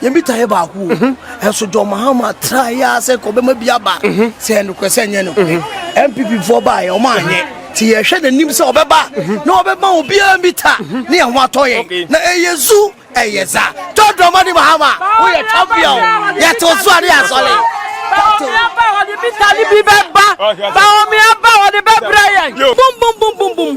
Yɛn bi taeɛ baako o. Nso John Mahama traeɛ ara sɛ nka ɔbɛma bi aba sɛ ɛyɛ nokorɛ sɛ ɛnyɛ nokorɛ. NPP foɔ baeɛ wɔn anyɛ. Nti yɛhwɛ n'anim sɛ ɔbɛba na ɔbɛma obiara bi ta na yɛn ho atɔ yɛn. Na ɛyɛ zu ɛyɛ za. John Dramani Mahama woyɛ champion o. Yɛte wo so a ne yɛ asɔre. Baomia ba wɔde bi ta ne bi bɛba. Baomia ba wɔde bɛbrɛ yɛn. Bum bum bum bum bum.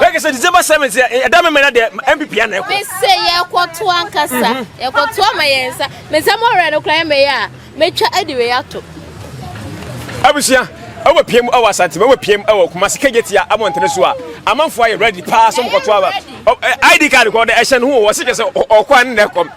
Like sɛ December seventh yɛ eh, ɛda mɛmɛ na deɛ MPP ana ɛkɔ. Mese yɛkɔto ankasa mhm. yɛkɔto ama yɛn nsa mesɛ mɔwerɛ no kora mɛyɛ a mɛtwa adi wei ato. Abusua ɛwɔ piem ɛwɔ Asante ɛwɔ piem ɛwɔ Kumasi kegye tia abɔntene so a amanfoɔ ayɛ ready paa sɛ mokɔto aba ID card kɔ dɛ ɛhyɛ no ho wɔ se kyɛ sɛ ɔkɔ a ne na ɛkɔm.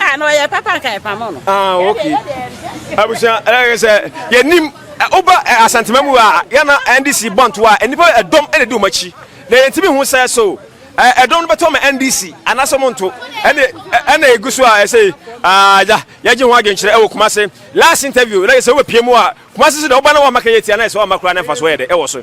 Ah, na ɔyɛ papa nka ɛpamo no. Ah, okay. Abusua, ɛyɛ sɛ yɛnim woba asantema mu a yɛna NDC bɔnto a nnipa ɛdɔm ɛna di wɔn akyi na yɛntumi ho sɛ so ɛdɔm no bɛtɔ ma NDC anaasɛ wɔn nto ɛna ɛna egu so a ɛsɛ agya yɛgye ho adwenkyerɛ ɛwɔ Kumase last interview na yɛ sɛ wobɛpie mu a Kumase so deɛ woba na wɔn amaka yɛ tia na yɛ sɛ wɔn amakora ne mfa so yɛ dɛ ɛwɔ so.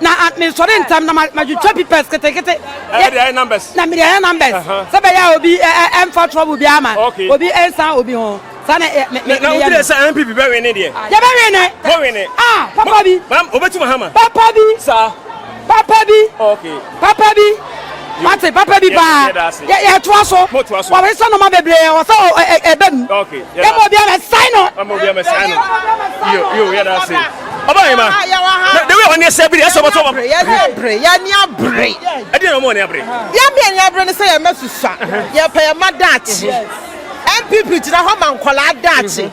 na mesɔre ntɛm na matwitwa pipɛs ketekete na mede ayɛ numbers sɛ bɛyɛ a obi ɛmfa trouble bi ama obi ɛnsan obi ho saa na meyɛ no sɛ mpp bɛwe ne deɛ yɛbɛwe ne ah papa bi papa bi papa bi Papa bi, wate, papa bi paa. Yɛ, yɛtoa so. Wɔresesa nnoɔma bebree a ɛwɔ sɛ ɔ, ɛ, ɛ, ɛba mu. Yɛma obiara na ɛsan no. Yɛma obiara na ɛsan no. Yo, yo, yɛda ase. Ɔba yɛ ma. Ah, yɛwɔ ha. Na, the way ɔne ɛsɛ biri, ɛsɛ ɔbɛtɔ ɔba. Yɛne abere, yɛne abere. Ɛdeɛ na ɔmo ɔne abere. Yɛn deɛ yɛne abere ne sɛ yɛn mma susua. Yɛpɛ yɛn mma daakye. NPP gyina hɔ ma nkwadaa daakye.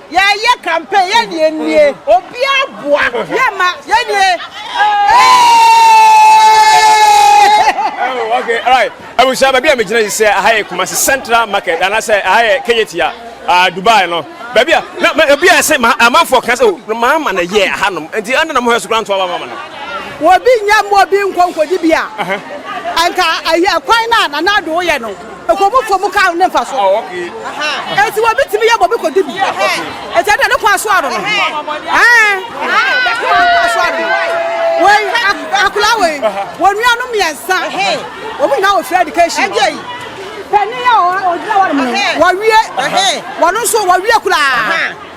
Yɛyɛ campaign yɛ ne yɛ nie. Obia boa yɛ ma yɛ nie. Oh, okay, all right. Abusha, baby, I'm a general. Say, I have Kumasi Central Market, and I say, I have Kejetia, uh, Dubai, no. Baby, na, baby, I say, my, I'm for cancer. Oh, my man, a year, Hanum, and the under the most grand to our mama. Well, being young, more being conquered, Dibia. Uh-huh. And I hear quite not, and I do, you know. Ɛkɔ mu kɔ mu ka ne mfa so. Eti wɔ bi tumi yɛ bɔ bi kɔ di bi. Eti ɛdɛ ne kɔ aso ano no. Ɛɛ. Kɔ aso ano no. Wei akula wei. Wɔn nua no mmiɛnsa. Wɔn nyinaa wɔ free education. Ɛgye yi. Pɛni yɛ ɔgyina wɔn mu. Wɔwie. Wɔn nso wɔwie kulaa.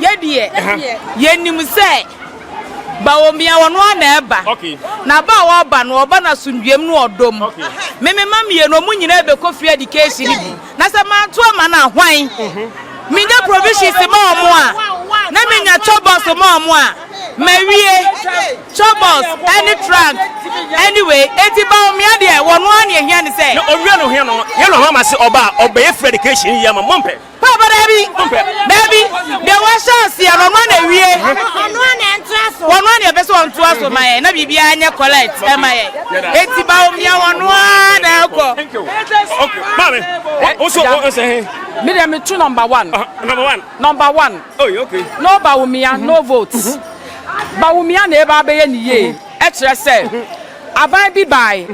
Yɛ deɛ, yɛnim sɛ Bawomia wɔ no ara na ɛba, na ba a ɔreba no, ɔba no asomdwoeɛm ne ɔdɔ mu. Me me mma mmienu, wɔn nyinaa bɛkɔ free education no bi, na sɛ manto ama no a, hwan? Menya provisions ma wɔn a, na menya chobos ma wɔn a, mawie chobos ne trunk. Anyway, enti Bawomia deɛ, wɔ no ara na ɛhia ne sɛ. Na ɔwia no hwɛ no, yɛn na ɔhɔ ama se ɔba a, ɔbɛyɛ free education yi ama mompɛ. Papa dabi dabi deɛ wahyɛ aseɛ no ɔno ana awie ɔno ana ɛntra so ɔno ana ɛpɛ sɛ ɔntoa so ma yɛn na biribiara nyɛ collect ɛma yɛn eti ba omia ɔno ara na ɛkɔ. Maame ɔsɔ ɔsɛ he. Mi deɛ mi tu number one. Number one. Number one. Oye oh, okay. No ba omia no mm-hmm. vote. Mm-hmm. Ba omia na eba abɛyɛ ne yie mm-hmm. ɛkyerɛ sɛ aban bi baae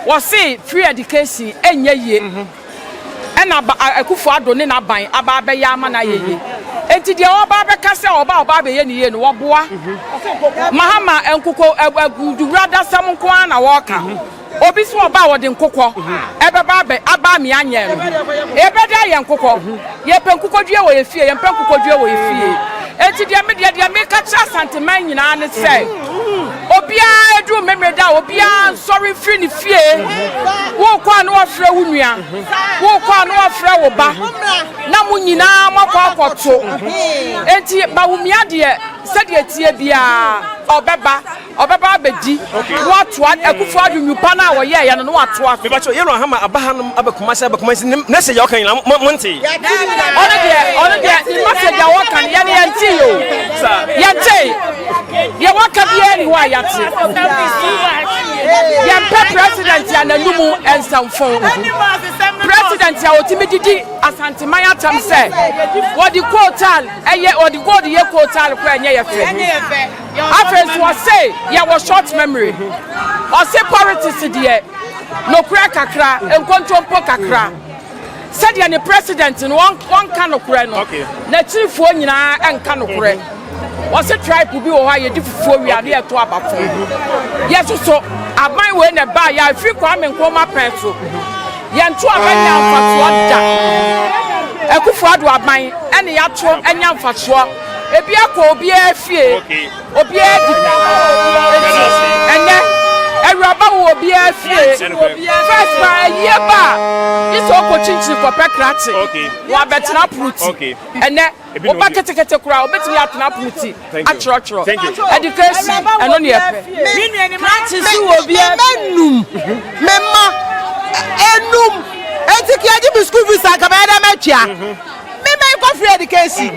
wɔse free education ɛnyɛ yie. Ɛna ba a Akufo Addo ne n'aban aba abɛyɛ ama no ayɛ yie. Enti deɛ wɔba abɛka sɛ ɔba a ɔba abɛyɛ no yie no, wɔboa. Mahama nkokɔ ɛ ɛ Duradasɛm nko ara na wɔreka. Obi se ɔba a ɔde nkokɔ ɛbɛba abɛ aba amia nyɛɛ no. Ɛbɛda ayɛ nkokɔ. Yɛpɛ nkokɔdua wɔ yɛn fie, yɛmpɛ nkokɔdua wɔ yɛn fie. Enti deɛ me deɛ, deɛ meka kyerɛ Asanteman nyinaa ne sɛ, obiara ɛduru Memeneda a, obiara nsɔre mfiri ne fie. Worekɔ a na wafrɛ wo nua, worekɔ a na wafrɛ wo ba, na mo nyinaa moakɔ akɔto. Enti Bawumia deɛ, sɛdeɛ ɛteɛ biara, ɔbɛba. Ɔbɛba abɛdi na watoa Akufo Addo nnwupa no a wɔyɛeɛ no na watoa. Mepakyɛw, Yellow Hammer aba hanom aba Kumasi aba Kumasi ne message a ɔka nyinaa mo mo ntee? Ɔno deɛ ɔno deɛ ne message a wɔka no yɛn yɛntee o. Yɛntee. Deɛ wɔka biara nni hɔ a yɛate. Yɛmpɛ President a n'anum nsa mfõ. President a ɔtumi didi Asanteman atam sɛ wɔde coal tar yɛ wɔde gold yɛ coal tar koraa ɛnyɛ yɛ fɛ. Afei nso ɔse yɛwɔ short memory. Ɔse politics deɛ nokorɛ kakra, nkontompo kakra. Sɛdeɛ ne president no ɔnka nokorɛ no, n'akyirifoɔ nyinaa nka nokorɛ. Ɔse tribe bi wɔ hɔ a yɛdi fufuo wie a na yɛto aba fam. Yɛso so aban wei na ɛbaeɛ a ɛfiri Kwame Nkrumah pɛn so. Yɛnto aba nyaa mfasoɔ da. Akufo-Addo aban na yɛato anya mfasoɔ. Ebiara kɔ obiara fie, obiara di bi. Eti ɛnɛ, awuraba wɔ obiara fie. First ba ayie ba a, isɛ ɔkɔ kyinkyin kɔpɛ krakye na wabɛtena pono ti. Ɛnɛ, woba ketekete koraa, obetumi atena pono ti atwerɛtwerɛ. Education, ɛno na yɛpɛ. Krakye nso wɔ obiara fie. Me num, me mma, enum. Eti ka yɛgye me school fees a, anka mɛyɛ dɛn matua? Me man kɔ free education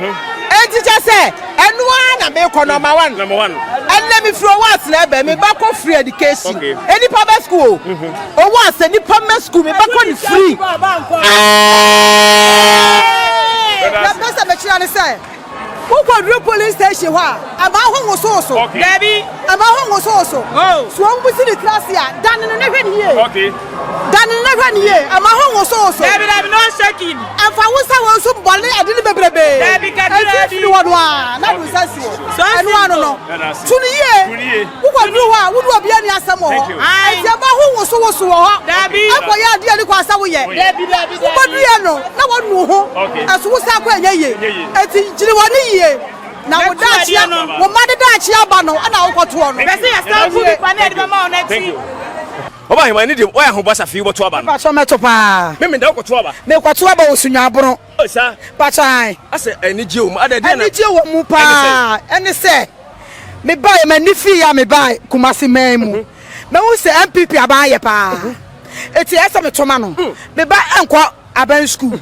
enti kyɛ sɛ ɛno ara na mekɔ number one Number one. ɛnɛ mefiri ɔwɔ asena ɛbɛ me ba kɔ free education Okay. nnipa bɛ school o ɔwɔ asɛ nnipa mmɛ school me ba kɔ no free Brother, na pɛ sɛ mekyerɛ ne sɛ wokɔduru police station hɔ a ɛma ho wosowoso Okay. Dabi. ɛma ho wosowoso Oh. so ɔmbu si ne tiri ase a dane no na hwɛ ne yie Okay. Dane na hwɛ no yie, mma ho nwosowoso. Daabi, daabi, na ɔnhyɛ gin. Mfa wo nsa wɔn so bɔ ne adini bebrebe. Daabi, kakra bi. Mfimfini hɔ no ara na de wo nsa si hɔ. Sɛ ɔnhyɛ Ɛno ano no, gin o. tu no yie. Tu no yie. Wokɔduru hɔ a, wo ne obiara nni asɛm wɔ hɔ. Thank you. Ae. Enti mma ho nwosowoso wɔ hɔ. Daabi. Nkɔyɛ adeɛ a ɛnni kwan sɛ woyɛ. Daabi. Daabi, daabi, daabi. Wobɛduruiɛ no, na wɔanu wo ho. Okay. Ɛso wo san kɔ a, ɛnyɛ yie. Ɛnyɛ yie. Enti gyina w'ani yie, na Na wo tu daakye adeɛ a, no. wo mma de daakye aba no na wokɔtoɔ no. Hwɛ sɛ yɛsan Ɛno gu bi nie, pa na yɛde bɛma wo no akyi. Thank you. Ɔba aheman ne deɛ ɔyɛ ahobasa fii wobɛto aba no. Mpatsɔ mɛto paa. Me meda wo kɔto aba. Me kɔto aba wɔ Sunyabron. Oh saa. Mpatsɔ ae. Asɛ anigyeɛ wɔ mu adɛ deɛ na. Anigyeɛ wɔ mu paa ɛne sɛ me baeɛ m'ani fii yɛ a me baa Kumasi man mu mɛ hu sɛ NPP aban ayɛ paa ɛti ɛyɛ sɛ me to ma no me ba nkɔ aban school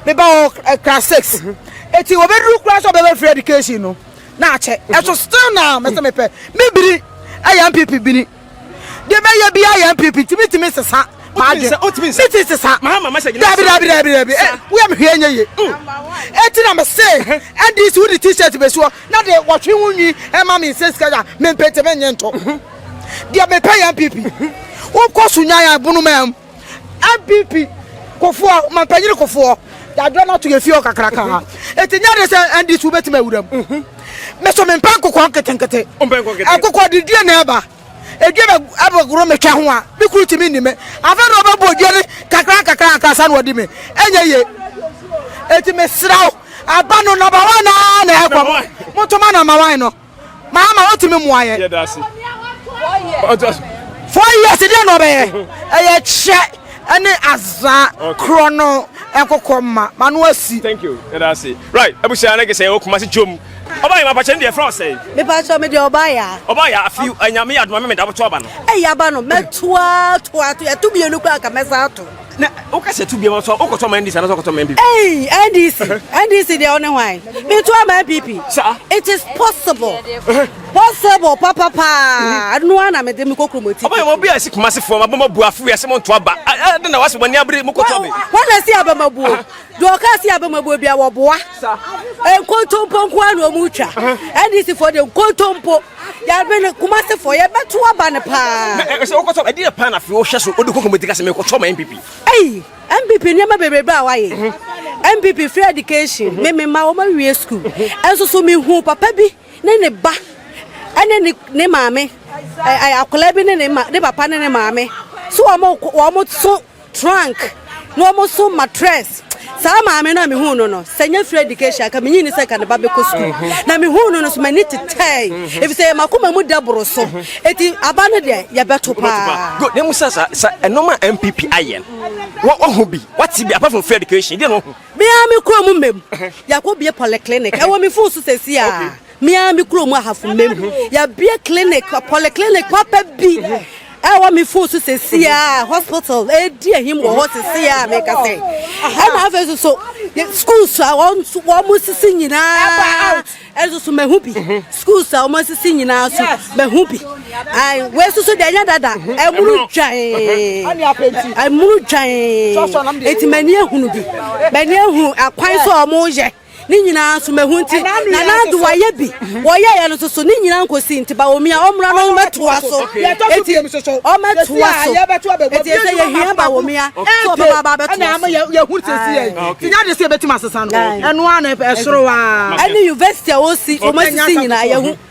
me ba wɔ class six ɛti wɔ bɛ duru kura sɛ ɔbɛ bɛ free education no na akyɛ ɛso still now mɛ sɛ me pɛ me bini ɛyɛ NPP bini. Deɛ bɛyɛ bi ayɛ mpipi nti mi ti mi sesa. Adi mi ti sesa. Dabi dabi dabi dabi eh, wia mi hwɛ enye ye. Mm. Eti na mi se ɛdi si wudi t-shirt besi hɔ na de wɔtwe ho nwi ɛma mi nse sika ya mi mpete mi nye nto. Deɛ mi pɛ yɛ mpipi. Wokɔ so nyan ya bunu mɛm. NPP kofoɔ ɔmampanyini kofoɔ yɛadwerɛ no ato yɛn fie hɔ kakraka ha ɛti nyɛ de sɛ NDC wobɛtumi awura mu me so mempɛ nkokoɔ nketenkete ɛkokoɔ de dua na ɛba ɛdua bɛ ɛbɛgoro metwa ho a me kuru tumi nni me afei na ɔbɛbɔ dua ne kakra kakra ankasa na ɔde me ɛnyɛ ye ɛti mesrɛ wo aba no nɔbawa naa na ɛkɔ motoma na mawan no Maama wotumi mua yɛ. Yɛ da se. Ɔtɔ so. Four years deɛ na ɔbɛyɛ. Ɛyɛ kyɛ ɛne aza korɔ no nkokɔ ma ma no asi. Thank you. Yɛ da se. Right. Abusua ne gesɛ yɛwɔ Kumasi Jom. Ɔbaa yɛ ma pakyɛ ne deɛ frɛ ɔsɛe. Me pakyɛ me deɛ ɔbaa yɛ. Ɔbaa yɛ afi anyame yɛ adoma me me da boto aba no. Ɛyɛ aba no mɛtoa toa to yɛto mienu kura nka mɛsa ato. na woka sɛ tu biama so wokɔtɔ ma ndc anasɛ wokɔtɔ ma npp ei ndc ndc deɛ wo ne hwan metu ama npp it is possible possible papa paa no a na mede mekɔ kuromɔti ɔbɛyɛ obi a ɛsi kuma se fam abama bu afo wiase mo nto aba ɛde na wase bɔne abere mokɔtɔ me wɔna si abama buo deɛ ɔka si abama buo bia wɔboa nkontompo nko a na ɔmu twa ndc foɔ deɛ nkontompo Yɛabe no Kumasefoɔ yɛbɛto aba no paa. Na ɛsɛ wokɔtɔ ɛdeɛ paa na afei wohwɛ so wode kɔ komiti ka sɛ mekɔtɔ ma NPP. Ei NPP nneɛma bebrebe a wayɛ. NPP free education me me ma wɔn awie school. Ɛnso so mehu papa bi ne ne ba ɛne ne ne maame ɛ akwadaa bi ne ne ma ne papa ne ne maame so wɔn wɔn so. trunk na ɔmo so matress saa maame no a mehuu no no sɛ nyɛ free education ka menyi ne sɛ ka ne ba bɛkɔ sukuu mhm. na mehuu no no so m'ani tetɛe mhm. ɛfiri sɛ makoma mu da boro so ɛti mhm. aba no deɛ yɛbɛto paa na mu sɛ sɛ ɛnom a mpp ayɛ no wɔho bi wate bi apart from free education deɛ no ɔho bia mekɔɔ mu mmam yɛakɔ bie polyclinic ɛwɔ me fon so sɛsi a Me ara me kurom ahafo mmam yɛabue clinic polyclinic papa bi ɛwɔ me fon so sɛsi a hospital ɛdi ahim wɔ hɔ sɛsi a meka sɛ ɛna afei so so schools a wɔn sisi nyinaa ɛso so mahu bi schools a wɔn sisi nyinaa so mahu bi wei so so deɛ ɛnyɛ dada ɛmuru dwan ɛmuru dwan eti mani ehunu bi mani ehunu akwan so wɔn yɛ. Ne nyinaa nso mahu nti na n'ado wayɛ bi wɔyɛeɛ no soso ne nyinaa nkɔsi nti Bawomia ɔmmra no ɔmmɛtoa so eti ɔmmɛtoa so eti ɛsɛ yɛhia Bawomia sɛ ɔbɛba aba abɛtoa so yɛhu sɛsi yɛ nti nyɛ ade sɛ yɛbɛtumi asesa no ɛno a na ɛsoro a ɛne university a wɔsi wɔn asisi nyinaa yɛhu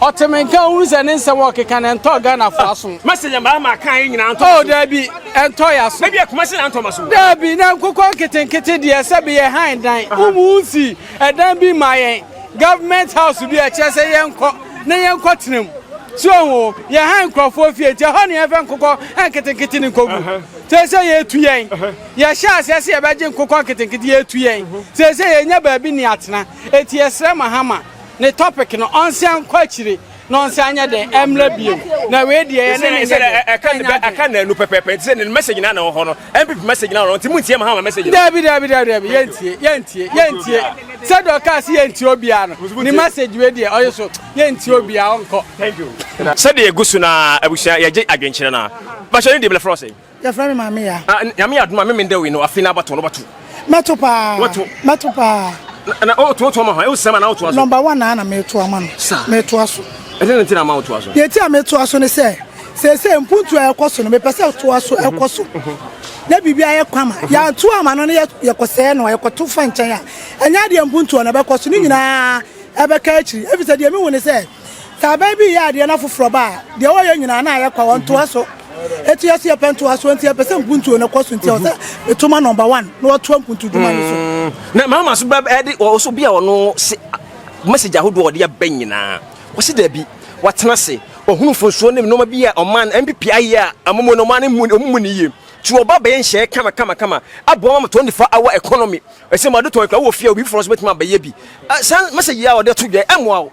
Ɔte me nka ohunu sɛ ne nsɛm a ɔkeka no ɛntɔɔ Ghanafoɔ aso. Mɛsɛ yɛn baa maa kan nyinaa ntɔ maso. Oh daabi, ɛntɔ yɛn aso. Mɛbi Kumasi na ntɔ maso. Daabi, na nkokɔ nketenkete deɛ sɛbi yɛ han dan. Womu nsi ɛdan bi ma yɛn, government house bi a ɛkyerɛ sɛ yɛnkɔ na yɛnkɔ tena mu. So ohu o, yɛ han nkorɔfoɔ fie nti ɛhɔ na yɛmfa nkokɔ nketenkete no nkɔgu. Seesei yɛretu yɛn. Yɛhyɛɛ aseɛ sɛ yɛbɛgye nkokɔ nketenkete, yɛretu yɛn. Seesei yɛnnya baabi ne atena. Enti yɛsrɛ Mahama. ne topic no ɔnsan nkɔ akyire na ɔnsan nyɛ dɛ ɛmla bio na wei deɛ ɛne ne nyɛ dɛ ɛka na ɛnu pɛpɛpɛ nti sɛ ne message na na wɔ hɔ no mpp message na wɔ nti mu ntie ma ha ma message dabi dabi dabi dabi yɛntie yɛntie yɛntie sɛ deɛ ɔkaa sɛ yɛntie obiara no ne message wei deɛ ɔyɛ so yɛntie obiara ɔnkɔ sɛdeɛ ɛgu so na abusua yɛgye adwenkyerɛ no a bahyɛ no deɛ blɛfrɛ ɔsɛ Yɛfrɛ me Maame Yaa. Ah, Nyame yɛ adom a, me mendɛ wei no, afei na abatoɔ no bɛto. Mɛto paa. Wɔto. Mɛto paa. Na, na ɔtoa ɔtoa ma hɔ, ɛwo sɛm a na wotoa so. Number one na na meto ama no. Sa. Metoa so. Ɛdɛ na nti na ama wotoa so. Deɛ ti a metoa so ne sɛ, sɛsɛ mpuntu a ɛkɔ so no, mepɛ sɛ toa so mhm. ɛkɔ so. Mhm. Na biribi ayɛ kwa ma. Mhm. Yɛanto ama no ne yɛkɔsɛɛ no, yɛkɔto fa nkyɛn a, ɛnyɛ adeɛ mpuntuo na ɛbɛkɔ so, ne nyinaa ɛbɛka akyiri. Ɛfisɛ deɛ mehu ne sɛ, Sɛ aban bi reyɛ adeɛ na foforɔ ba a, deɛ wɔyɛ nyinaa na ayɛ kwa, wɔntoa so. Eti yɛso yɛpɛ ntoasoɔ nti yɛpɛ sɛ mpuntuo no kɔ so nti ɛwɔ sɛ meto ma number one na wɔtoa mpuntu dwuma no so. Na mama so bɛ ɛde wɔ so bi a ɔno se message ahodoɔ a ɔde aba nyinaa wɔse dabi watena se ɔhunu mfonsoɔ ne nneɛma bi a ɔman no NPP ayɛ a amomuo no ɔman no mu ɔmu mu ne yie nti ɔba bɛyɛ nhyɛɛ kama kama kama aboa ma ma 24 hour economy ɛsɛ ma ɔde tɔn kura wɔ fie a obi foforɔ nso bɛtumi abɛyɛ bi saa message yi a ɔde to dwa ɛmoa wo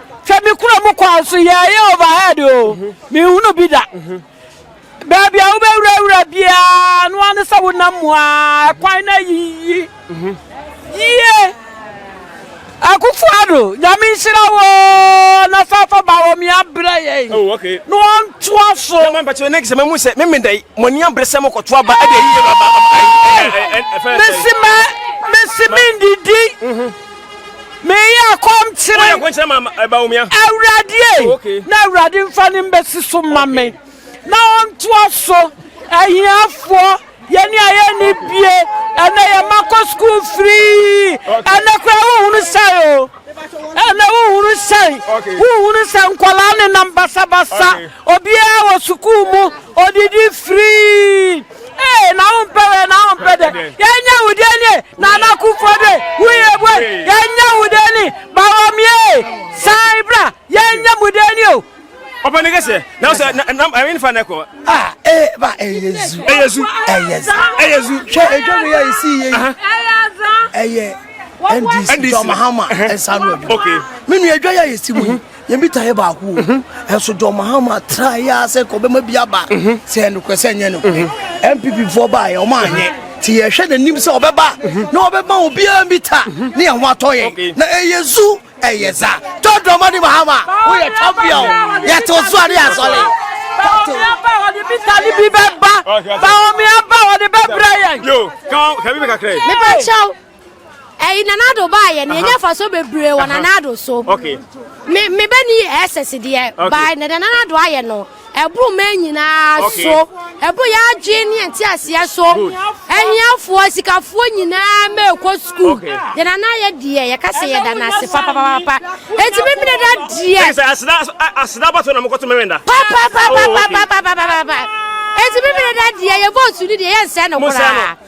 Sɛ mikura mo kwan so yɛ ɛyɛ overhead o, minhunu bi da. Baabi a wobɛwurawura biara, ɛno ara ne sɛ wonam mu ara, kwan no ayiyi yie. Akufo-Addo, Nyame nhyira wo oo, na san fa Bawɔmia brɛ yɛn Oh, okay. na ɔntoa so. Sɛ mampakyɛ ne sɛ mamu sɛ meme dɛn mo ani abere sɛ mokɔto aba ɛde ayi yɛ aba aba ayi ɛfɛ Mesi mɛ, mesi mendidi. Meyɛ kɔm kyere Awurade ei, na Awurade mfa ne mbɛsi so ma me, na ɔntoa so ahiafoɔ yɛne a yɛnni bie ɛnɛ yɛ ma kɔ sukuu firii ɛnɛ koraa wohunu sɛn o ɛnɛ wohunu sɛn wohunu sɛ nkwadaa nenam basabasa obiara wɔ sukuu mu odidi firii Ee, na wo mpɛ wɛ, na wo mpɛ dɛ. Yɛnyɛ wo dɛ nie, Nana Kufuor de, wo yɛ bue. Yɛnyɛ wo dɛ ni, Bawumia ee, san bra, yɛnyɛ mo dɛ ni o. Papa ne kɛseɛ na sɛ nam ɛyɛ nifa na ɛkɔ. A ee ba ɛyɛ zu. Ɛyɛ zu. Ɛyɛ za. Ɛyɛ zu. Hwɛ edwa mi yɛ esi yɛ yi. Ɛyɛ za. Ɛyɛ NDC John Mahama ɛnsa no adwuma. Okay. Menu edwa yɛ esi mu. Yɛn bita yɛ baako o. Nso John Mahama try ya sɛ nka ɔbɛma bi aba. Sɛ yɛ nokorɛ sɛ nyɛ nokorɛ. NPP foɔ baa yɛ ɔmo anyɛ. Ti yɛ hwɛ na nim sɛ ɔbɛba na ɔbɛma obiara mbita ne yɛn ho atɔ yɛn. Na ɛyɛ zu ɛyɛ za. John Dramani Mahama wo yɛ champion yɛ te wo so a ne yɛ asɔre. Ba omi aba ɔde bita ne bi bɛba. Ba omi aba ɔde bɛbrɛ yɛn. Yo, kan, kan bi bɛ kakra yi. Mepa kyɛw. Ɛyi Nana Addo baa yɛ no yɛnya fasoɔ bebree wɔ Nana Addo so. Me me bɛ ni ɛsɛs deɛ baa na deɛ Nana Addo ayɛ no ɛboro mɛ nyinaa so ɛboro yɛ adwene ne ɛnti aseɛ so ɛhiafoɔ sikafoɔ nyinaa mɛ ɛkɔ sukuu deɛ Nana ayɛ deɛ yɛ kasa yɛ da n'ase papapapa eti mi mi dada deɛ. Ɛsɛ aseda aseda abatɔ na mo kɔtɔ mɛmɛ da. Papapapapapapapa eti mi mi dada deɛ yɛ vote ni deɛ yɛ nsɛn no koraa.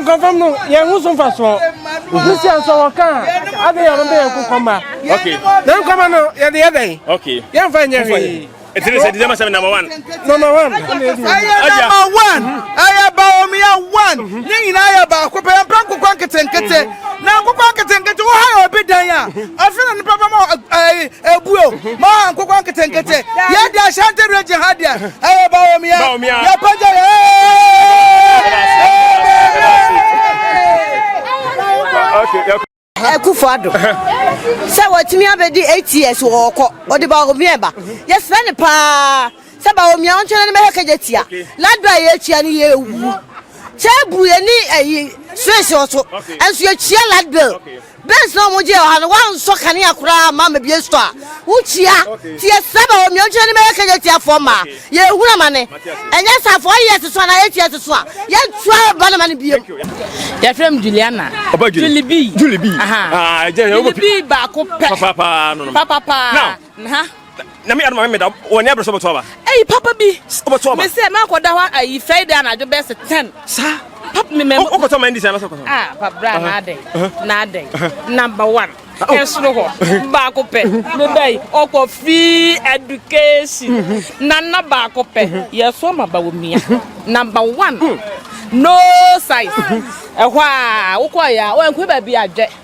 Nkɔmfam no, yɛn ho so mfasoɔ. Ne sia nso wɔka a, adɛn yɛ no bɛyɛ nkokɔmma. Na nkɔmma no, yɛde yɛ dɛn? Yɛmfa nyɛ hwee. Ɛti ne sɛ December 7 number one. Number one. Ɛyɛ number one. Ɛyɛ baomia one. Ne nyinaa yɛ baako pɛ. Yɛmpɛ nkokɔ nketenkete. na nkokɔ nketenkete wo ha yɛ obi dan a ɔfrɛ no nipa bɛma ɛbuo eh, eh, ma nkokɔ nketenkete yɛ de ahyɛnte regye ha deɛ ɛyɛ baomia yɛpagya yɛ ɛkufo ado sɛ wɔtumi abɛdi eight years wɔɔkɔ ɔde baomia ba yɛsrɛ ne paa Sɛ ba omia ɔnkyɛ na ne mɛhwɛ kɛ gye tia na dɔ a yɛ tia no yɛ wu kyɛ bru yɛ ni ɛyi switch ɔso ɛnso yɛ tia light bill bens na ɔmo gye ɔha no wa nsɔ kanea koraa ma ma bie store wo tia ti yɛ sɛ ba omia ɔnkyɛ na ne mɛhwɛ kɛ gye tia fɔ ma yɛ ehuna ma ne ɛnyɛ sa fɔ yɛ ɛsoso ana yɛ tia ɛsoso a yɛ tua ba na ma ne biem. Yɛ fɛ mu Juliana. Ɔba Julie. Julie bi. Julie bi. Aha. Ah, ɛjɛ yɛ ɔba. Julie bi baako pɛ. Papa paa no. Papa paa. Now. Nha. Nyame adom a me meda wɔ nia berɛ sɛ wobɛto aba. Ei papa bi. Wobɛto aba. Mesɛ mɛkɔ da hɔ ayi Friday anadwo bɛs 10. Sa. Papa me mɛ. Wokɔtɔ ma ndi sɛ anasɛ kɔtɔ. Ah papa bra na adɛn. Na adɛn. Number one. Ɛsoro hɔ. Baako pɛ. Meba yi. Ɔkɔ free education. Nana baako pɛ. Yɛso ama ba wɔ mia. Number one. No size. Ɛhɔ a wokɔ ya. Wankɔ baabi adwɛ.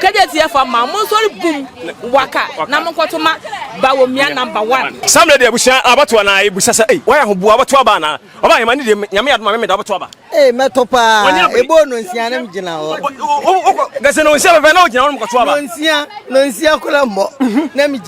Kejetie fa ma monsɔre bum waka na monkɔto ma Bawomia number one. Saa mmerɛ deɛ abusua abatoɔ na yɛbusa sɛ ei wayɛ ho bu abatoɔ aba anaa? Ɔbaa Ahema ne deɛ Nyame adom a me meda abatoɔ aba. Ei mɛto paa eboo nonsia ne mgyina hɔ. Wokɔ gɛse nonsia pɛpɛ na wogyina hɔ ne mokɔto aba. Nonsia nonsia koraa mmɔ na megyina.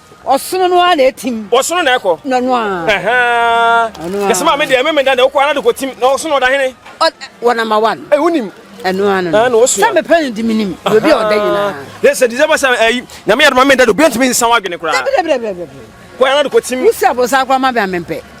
Ɔsono no ara na etim. Ɔsono na ɛkɔ. Na no ara. Ɛhɛn. Ɛno ara. Yɛsɛ maame deɛ mɛmɛ da na ɔkɔ ara de kɔ tim na ɔsono ɔda hene. Wɔ na ma wa no. Ɛyɛ wonim. Ɛno ara no. Ɛna ɔsua. Sɛ mepɛ no di mi nim. Obi a ɔda nyinaa. Yɛsɛ December sɛ ɛyi nyame yɛ adoma mɛ da do bi ntumi nsan wa adwene koraa. Dabi dabi dabi dabi. Kɔ ara de kɔ tim. Wusi abɔsa akora ma bɛ amempɛ.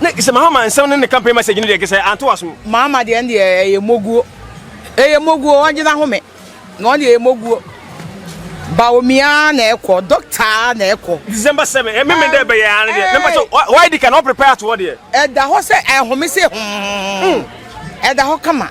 Ne sɛ Mahama nsɛm ne ne campaign message no deɛ ɛkɛ sɛ anto w'asom. Mahama deɛ no deɛ ɛyɛ moguo. Ɛyɛ moguo wɔn gyina home na wɔn deɛ ɛyɛ moguo. Baomia na ɛkɔ doctor na ɛkɔ. December seven ɛmi mi dɛ ɛbɛyɛ ano deɛ ne mpatsɛ wɔ ɛdi kan ɔpɛ pɛ ato hɔ deɛ. Ɛda hɔ sɛ ɛhome se hom ɛda hɔ kama.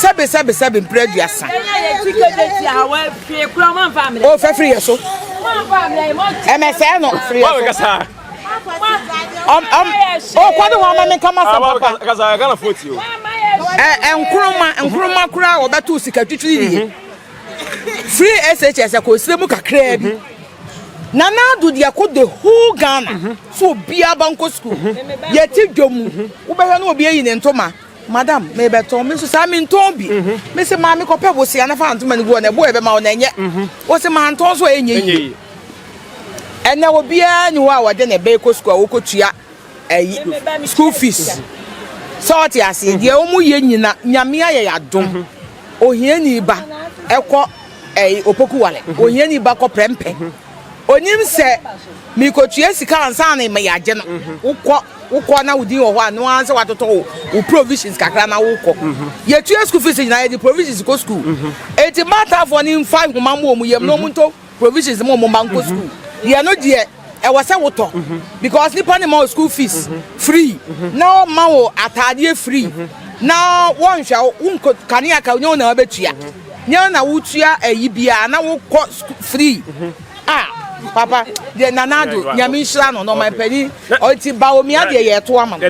Sɛbe sɛbe sɛbe mpere aduasa. O fɛ firi yɛ so. Ɛmɛ sɛ no firi yɛ so. O kɔ de wɔn ama mi kama sɛ papa. Ɛ nkuruma nkuruma kura a wɔbɛto sika twitwi yie. Mhm. Free SHS ɛkɔ osire mu kakraa bi. Mhm. Nana Ado deɛ kɔ the whole Ghana mhm. so obiara ba nkɔ sukuu. Yɛte dwa mu wobɛhwɛ no obi ayi ne ntoma. Madam, merebɛtɔn. Me nso saa mentɔn bi. Mm-hmm. Me se maame kɔpɛ bosea na fa ntoma no gu hɔ na ɛbo a ɛbɛma wo na ɛnyɛ. Mm-hmm. Ɔse mantɔn so a ɛnyɛ yie. Ɛnɛ obiara ni hɔ a wɔde ne bɛkɔ sukuu a wɔkɔtua ayi school fees. Mm-hmm. Sɛ ɔte aseɛ deɛ wɔn yɛ nyina nyame ayɛ yɛ adom. Ohiani ba ɛkɔ ɛyi opoku wale. Ohiani ba kɔ prɛmpɛ. Ɔnim sɛ merekɔtua sika ansa na yɛagye no. Wokɔ, wokɔ na wo din wɔ hɔ a, ɛno ara sɛ watotɔ wo wo provisions kakra na wokɔ. Yɛtua school fees nyinaa, yɛde provisions kɔ school. Enti Maltafoɔ no mfa nhoma mmɔ wɔn yam na wɔntɔ provisions ma wɔn mma nkɔ school. Deɛ no deɛ, ɛwɔ sɛ wotɔ because nipa no mma wo school fees free na ɔmma wo ataadeɛ free na wɔnhwɛ wo, wonkɔ kanea ka wonya wo na wabɛtua. Nyɛ na wo tua ayi biaa na wo kɔ school free ah papa deɛ nana ado nyame nhyira no na ɔman pani ɔti ba omia deɛ yɛ ɛto ama no.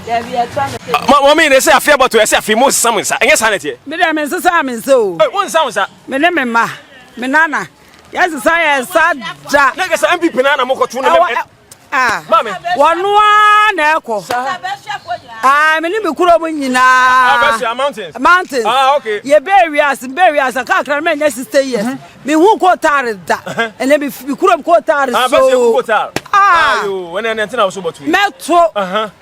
Mɔmi ne sɛ afe abɔto ɛsɛ afe mo nsesa mo nsa ɛnyɛ saa na ɛteɛ. Me deɛ me nsesa me nsa o. Wo nsa wo nsa. Me ne me mma me nana yɛ nsesa yɛ nsa da. Na kasa MPP na na mo kɔto ne. wɔno ara na ɛkɔ ah, me ne me kurom nyinaa ah, mountains ah, yɛbɛɛ wiase mbɛɛ wiase kakra no mɛnyɛ sista years mhm. mehu kotare da ɛnɛ me kurom kotare so mɛto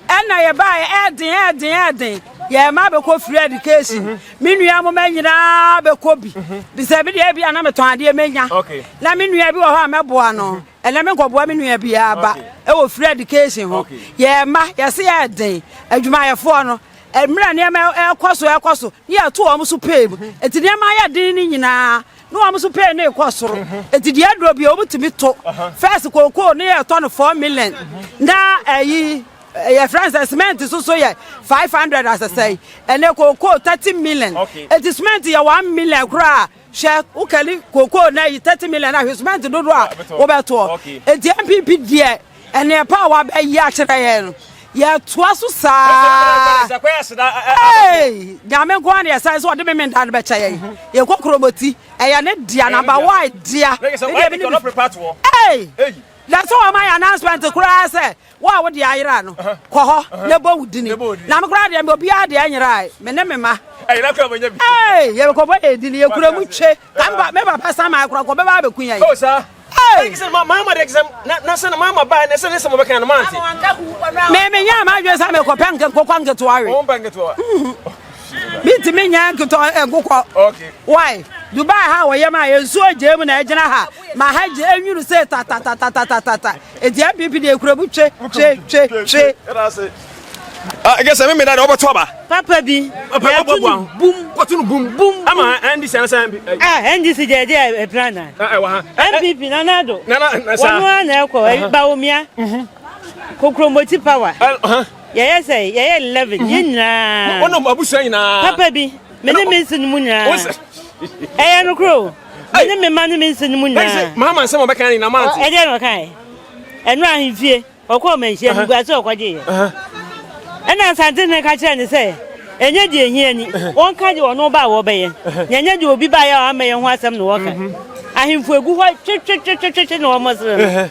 ɛna yɛbaɛ ɛden ɛden ɛden yɛn mma bɛkɔ free education mhm. me nua mo mɛ nyinaa bɛkɔ bi mhm. bisɛ bi deɛ bi a na metɔn adeɛ mɛnya na me nua bi wɔ hɔ a mɛboa no Ɛnɛ me nkɔboa me nua bi aba ɛwɔ free education ho. Yɛ mma yɛse yɛ den adwumayɛfoɔ no mmerɛ nneɛma ɛkɔ so ɛkɔ so ne yɛto wɔn so pay mu. Eti nneɛma ayɛ den ne nyinaa ne wɔn so pay ne rekɔ soro. Eti deɛ aduro bi wɔn tumi to first kookoo ne yɛtɔ no four million na ɛyi yɛ friend sɛ cement so so yɛ five hundred asɛsɛe ɛnɛ kookoo thirty million. Eti cement yɛ one million koraa. Hwɛ wo kali kokoo na yi thirty million ahwɛ cement dodo a wobɛtoɔ eti npp deɛ ɛnɛ pa a wabɛyi akyerɛ yɛn no yɛtoa so saa ee nyame nko ara na yɛsan sɛ ɔde meme nda no bɛkyɛ yɛn yɛkɔ kurobɔti ɛyɛ ne dea namba wa dea ee na sɛ wɔma yɛ announcement koraa sɛ Wo a wode ayera no, kɔ hɔ na bɔ wo dini. Na me koraa deɛ, obiara deɛ nyerae, me ne me mma. Ayera koraa manya bi. Ee, yɛbɛkɔbɔ yɛn dini, yɛkura mu twe. Ka me ba, me papa Samuel koraa, nka ɔbɛba abɛku yɛn. Oh, saa. Ee. Ɛnke sɛ mamma deɛ, ɛnke sɛ, na, na sɛ na mamma baeɛ na sɛ ne sɛ mobɛka no, mante. Me, menyɛɛ m'adwene sɛ mekɔpɛ nke, nkokɔ nketewa we. Wompɛ nketewa? Mhm. Mentumi nyɛ nketewa, eh, nkokɔ. Okay. Why? Dubai ha wɔ yɛm a, nsuo gyee mu na ɛgyina ha. Ma ha gye enwuru sɛ tatatatatata, edua bibi na ekurabu twe twe twe twe. Ɛgɛ sɛ mmemme da de ɔbɛto aba. Papa bi. Papa yɛ bɔ bɔ ahụ. Bum. Kɔtu no bum. Bum. Ama NDC anasa. Ah NDC jẹ ẹdi ẹpira na. Ẹwọ ha. NPP nana ado. Nana nasa. Wọn nua na ẹkọ bawomia. Kokromoti power. Yẹyẹ sẹ yẹyẹ eleven yẹ nyinaa. Wọn nọ abusua nyinaa. Papa bi. Mene mi nsi ni mu nyinaa. Ẹyẹ no kuro. Hey. Mene me ma ne me nse no mu nyinaa. Hey, sɛ maama nsɛm ɔbɛka ne nam ante. Ɛdeɛ na ɔkae. Ɛno ahemfie, ɔkɔ ɔmanhyia uh-huh. niguase ɔkɔgyeeɛ. Uh-huh. Ɛna nsantene ka kyerɛ ne sɛ, ɛnyɛ deɛ ɛhia ni, uh-huh. wɔnka deɛ ɔno ba a wɔbɛyɛ, na ɛnyɛ deɛ obi baeɛ a ɔammɛyɛ ho asɛm na wɔka. Mm-hmm. Ahemfo egu hɔ twetwetwetwetwe na wɔn sere no.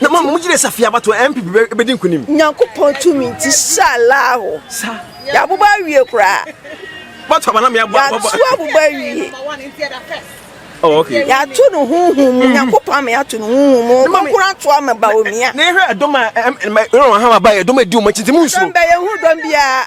Na mom mo gyina safi abatoɔ NPP bɛdi nkunim. Nyankopɔn tumi nti sha laaho. Sa. Yabobɔ awie koraa. Batoɔ aba na mea bɔ. Yatu abobɔ awie. Oh, okay. Yatu no huhu mu. Nyankopɔn ama yatu no huhu mu. Ɔbɔ kura to ama ba omia. Na ehwɛ ɛdɔm a ɛrɔn ha aba ɛdɔm edi wɔn akyi nti mu nsuro. Sɛmbɛ yɛ hu dɔm biara.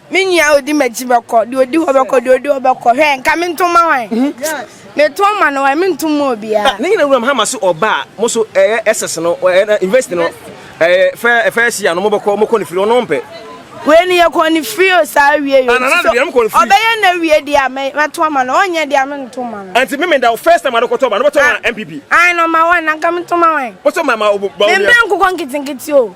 Me nua a odi m'akyi bɛkɔ, deɛ odi hɔ bɛkɔ, deɛ odi hɔ bɛkɔ. Hwɛ, nka mento mma hwan? Meto mma no hwan? Mento mma obiara. Ne nyinaa wuram ha ma so ɔba a mo so ɛyɛ SS no, ɛyɛ university no, ɛyɛ fɛ first year no mo bɛkɔ mo kɔ ne firi ɔno ɔmpɛ. Wei no yɛ kɔ ne firi o saa awie yɛ o so ɔbɛyɛ na awie deɛ a mɛto ama no ɔnyɛ deɛ a mento mma no. Ɛnti me me da o first time adokɔtɔ ɔba no bɛtɔ ma NPP. Ae no ma wan na nka meto ma wan? Bɛtɔ ma ma o ba o nua. Mempɛ nkokɔ nketenkete o.